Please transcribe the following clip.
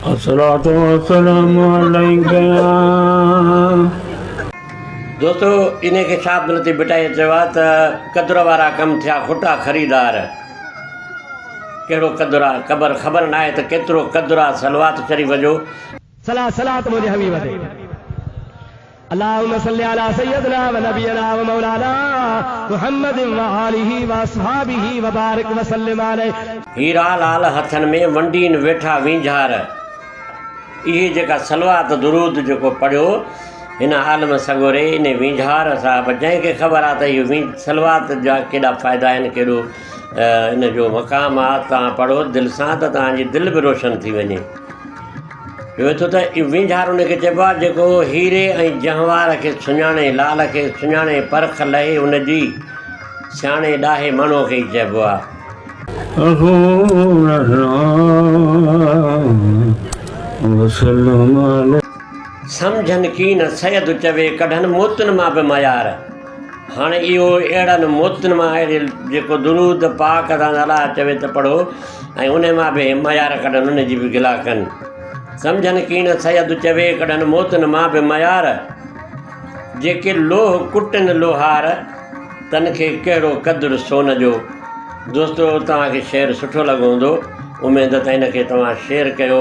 الصلوة والسلام عليك يا. دوستو انهي کي شاهه عبداللطيف ڀٽائيء چيو آهي ته قدر وارا ڪم ٿيا کوٽا خريدار. ڪهڙو قدر آ قبر خبر ناهي ته ڪيترو قدر آ صلوات شريف جو. صلاح صلات منهنجي حبيب تي. اللهم صل علي سيدنا ونبينا ومولانا محمد وآله واصحابه وبارڪ وسلم عليه. هيرا لال هٿن ۾ ونڊين ويٺا وينجهار. اهي جيڪا صلوات درود جيڪو پڙهيو هن عالم سڳوري انهي وينجهار صاحب جنهن کي خبر آ ته اهي وين صلوات جا ڪيڏا فائدا آهن ڪيڏو ان جو مقام آ تان پڙهو دل سان ته تان جي دل به روشن ٿي وڃي. چوي ٿو ته اهو وينجهار ان کي چئبو آهي جيڪو هيري ۽ جهنوار کي سڃاڻي، لال کي سڃاڻي، پرک لهي ان جي، سياڻي ڏاهي ماڻهوء کي ئي چئبو آهي. سمجهن ڪين سيد چوي ڪڍن موتن مان به ميار. هاڻ اهو اهڙن موتن مان آهي جو جيڪو درود پاڪ سان الله چوي ته پڙهو ۽ ان مان به ميار ڪڍن ان جي به گلا ڪن سمجهن ڪين سيد چوي ڪڍن موتن مان به ميار جيڪي لوهه ڪٽن لوهار تن کي ڪهڙو قدر سون جو دوستو توهان کي شعر سٺو لڳو هوندو اميد ته هن کي توهان شيئر ڪيو